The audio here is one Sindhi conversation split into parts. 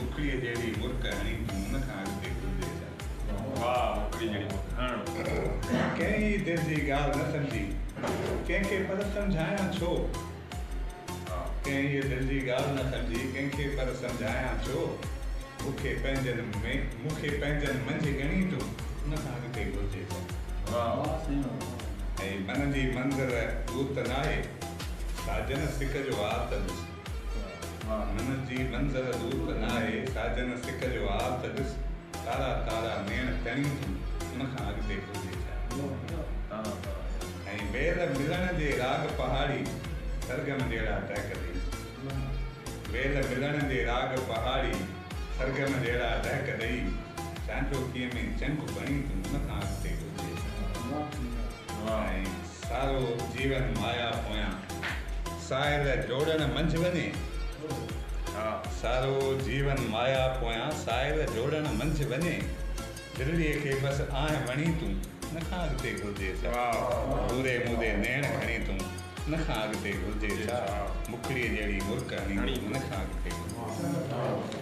مکڙيء جهڙي مرڪ هڻي تون ان کان اڳتي گهلجي ڇا؟ واهه مکڙيء جهڙي مرڪ هڻ. ڪنهن ئي دل جي ڳالهه نه سمجهي ڪنهن کي پر سمجهايان ڇو؟ ڪنهن ئي دل جي ڳالهه نه سمجهي ڪنهن کي پر سمجهايان ڇو؟ مون کي پنهنجن ۾ مون کي پنهنجن منجهه ڳڻي تون ان کان اڳتي گهلجي ڇا؟ واهه واهه سينو واهه. اي من جي منظر ڏوت ناهي ساجن سڪ جو آتنس. ها منت جي منظر دور ته نه آهي، ساجن سڪ جو آء ته ڏس، تارا تارا نيڻ تڻيون ٿيون، ان کان اڳتي گهرجي ڇا؟ ۽ ويل ملڻ جي راڳ پهاڙي سرگم جهڙا ٽهڪ ڏئي ويل ملڻ جي راڳ پهاڙي سرگم جهڙا ٽهڪ ڏئي، چانڊوڪيء ۾ چنگ بڻي ٿيون، ان کان اڳتي گهرجي ڇا؟ ۽ سارو جيون مايا پويان ساحل جوڙڻ منجھ وڃي ها سارو جيون مايا پويان ساحل جوڙڻ منجھ وڃي دلڙي کي بس آنهن وڻي تون ان کان اڳتي گهرجي ڇا پوري مودي نيڻ کڻي تون ان کان اڳتي گهرجي ڇا مکڙي جهڙي مرڪ هڻي تون ان کان اڳتي گهرجي ڇا.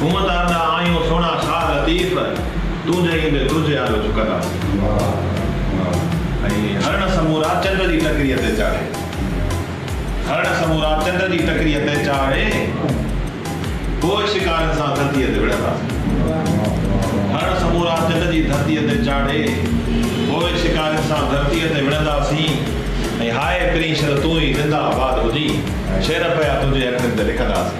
هونء ته ارڏا آهيون سهڻا شاهه لطيف، تون جهين به ترجي آيو چڪنداسين. ۽ هرڻ سمورا چنڊ جي ٽڪريء تي چاڙهي. هرڻ سمورا چنڊ جي ٽڪريء تي چاڙهي، پوء شڪارين سان ڌرتيء تي وڙهنداسين. هرڻ سمورا چنڊ جي ڌرتيء تي چاڙهي، پوء شڪارين سان ڌرتيء تي وڙهنداسين. ۽ هاء پرينشر تون ئي زنده آباد هجين، شعر پيا تنهنجي اکرين تي لکنداسين.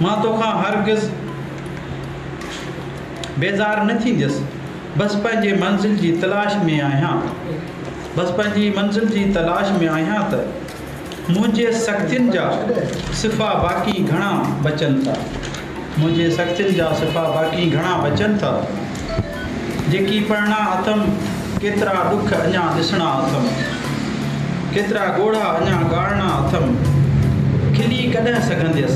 مان توکان هرگز بيزار نه ٿينديس بس پنهنجي منزل جي تلاش ۾ آهيان بس پنهنجي منزل جي تلاش ۾ آهيان ته منهنجي سختين جا صفا باقي گهڻا بچن ٿا منهنجي سختين جا صفا باقي گهڻا بچن ٿا. جيڪي پڙهڻا اٿم، ڪيترا ڏک اڃا ڏسڻا اٿم، ڪيترا ڳوڙها اڃا ڳاڙڻا اٿم، کلي ڪڏهن سگهنديس،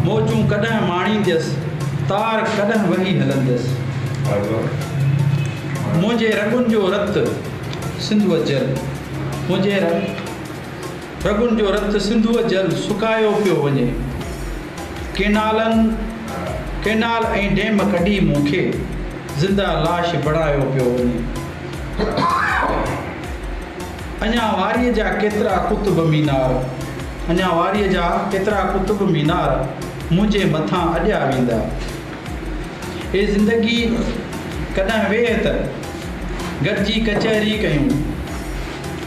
موجون ڪڏهن ماڻينديس، تار ڪڏهن وهي هلنديس، منهنجي رڳن جو رت سنڌوء جل، منهنجي. رڳن جو رت سنڌوء جل سڪايو پيو وڃي. ڪينالن، ڪينال ۽ ڊيم ڪڍي مون کي زنده لاش بڻايو پيو وڃي. اڃا واريء جا ڪيترا قطب مينار، اڃا واريء جا ڪيترا قطب مينار منهنجي مٿان اڏيا ويندا. اي زندگي ڪڏهن ويهه ته گڏجي ڪچهري ڪيون.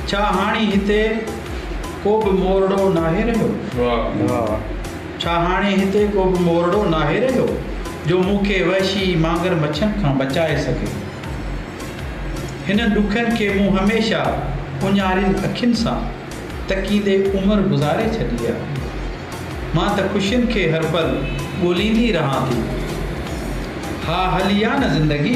ڇا هاڻي هتي ڪو به مورڙو ناهي رهيو؟ ڇا هاڻي هتي ڪو به مورڙو ناهي رهيو جو مون کي وحشي مانگر مڇن کان بچائي سگهي؟ هنن ڏکن کي مون هميشه اونهارين اکين سان تڪيندي عمر گذاري ڇڏي آهي. مان ته خوشين کي هر پل ڳوليندي رهان ٿي. ها هلي آ نه زندگي.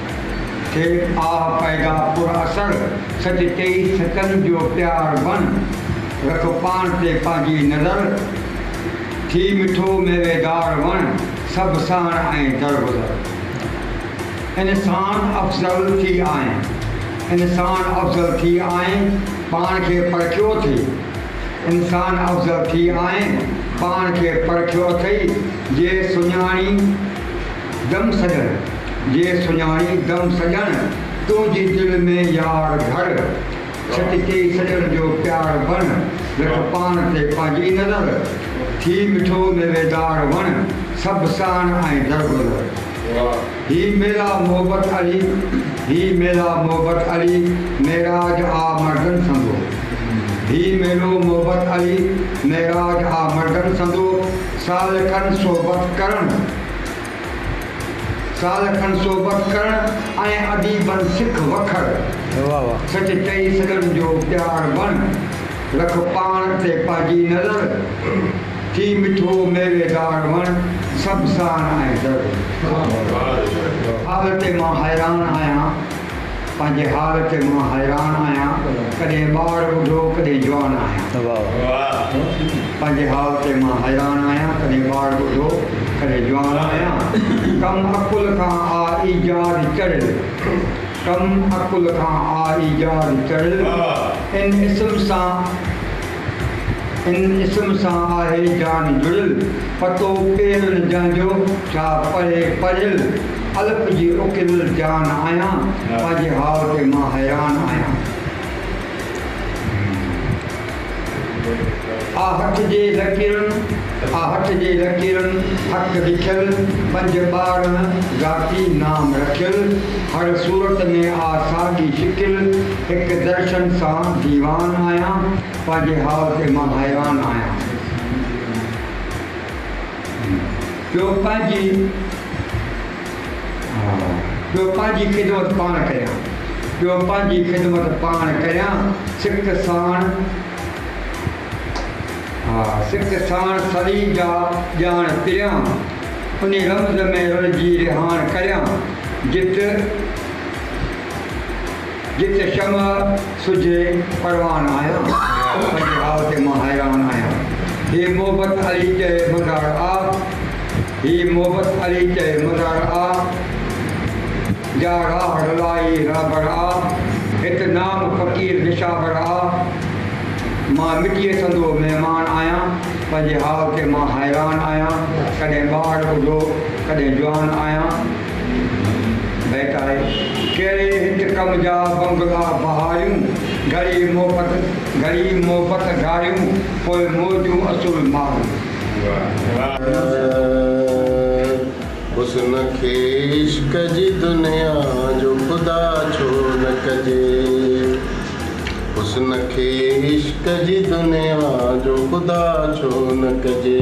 ٿئي آه پيدا پر اثر سچ ٽيئي سچن جو پيار بڻ رک پاڻ تي پنهنجي نظر ٿي مٺو ميوي دار وڻ سڀ سهڻ ۽ درگذر انسان افضل ٿي آئين انسان افضل ٿي آئين پاڻ کي پرکيو اٿئي انسان افضل ٿي آئين پاڻ کي پرکيو اٿئي جي سڃاڻي دم سڄڻ جي سڃاڻي دم سڄڻ تنهنجي دل ۾ يار گهڙ ڇٽ ڪي سڄڻ جو پيار بڻ رک پاڻ تي پنهنجي نظر ٿي مٺو ميويدار وڻ سڀ ساڻ ۽ درگذر هي ميرا محبت علي هي ميرا محبت علي معراج آ مردن سندو هي ميرو محبت علي معراج آ مردن سندو سالڪن صحبت ڪرڻ سال کن صحبت ڪرڻ ۽ اديبن سک وکر سچ چئي سڄن جو پيار بڻ رک پاڻ تي پئجي نظر ٿي مٺو ميوي دار وڻ سڀ ساڻ ۽ زر حال تي مان حيران آهيان. پنهنجي حال تي مان حيران آهيان ڪڏهن ٻار ٻڍو ڪڏهن جوان آهيان. پنهنجي حال تي مان حيران آهيان ڪڏهن ٻار ٻڍو ڪڏهن جوان آهيان ڪم عقل کان آ ايجاد چڙهيل ڪم عقل کان آ ايجاد چڙهيل ان اسم سان ان اسم سان آهي جان جڙيل، پتو پيل نه جنهن جو، ڇا پڙهي پڙهيل، الف جي اڪيلل جان آهيان، پنهنجي حال تي مان حيران آهيان. آ هٿ جي لڪيرن، آ هٿ جي لڪيرن، هٿ لکيل، پنج ٻارنهن ذاتي نام رکيل، هر صورت ۾ آ ساڳي شڪل، هڪ درشن سان ديوان آهيان، پنهنجي حال تي مان حيران آهيان. پيو پنهنجي پيو پنهنجي خدمت پاڻ ڪريان، پيو پنهنجي خدمت پاڻ ڪريان، سڪ ساڻ سڪ ساڻ سري جا ڄاڻ پريان، انهي رمز ۾ رلجي رهاڻ ڪريان، جت جت شمع سج پروان آهيان پنهنجي راء تي مان حيران آهيان هي محبت علي چئي مزار آ هي محبت علي چئي مزار آ جا راهه رلائي رهبر آ هت نام فقير نشابر آ مان مٽيء سندو مهمان آهيان پنهنجي حال تي مان حيران آهيان ڪڏهن ٻار ٻڍو ڪڏهن جوان آهيان بهڪائي ڪهڙي هت ڪم جا بنگلا بهاريون، گهڙي محبت گهڙي محبت گهاريون، پوء موجون اصول ماريون. حسن کي عشق جي دنيا جو خدا ڇو نه ڪجي حسن کي عشق جي دنيا جو خدا ڇو نه ڪجي.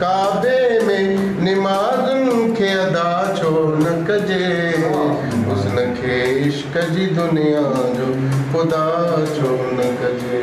ڪعبي ۾ نمازن کي ادا ڇو نه ڪجي حسن کي عشق جي دنيا جو خدا ڇو نه ڪجي.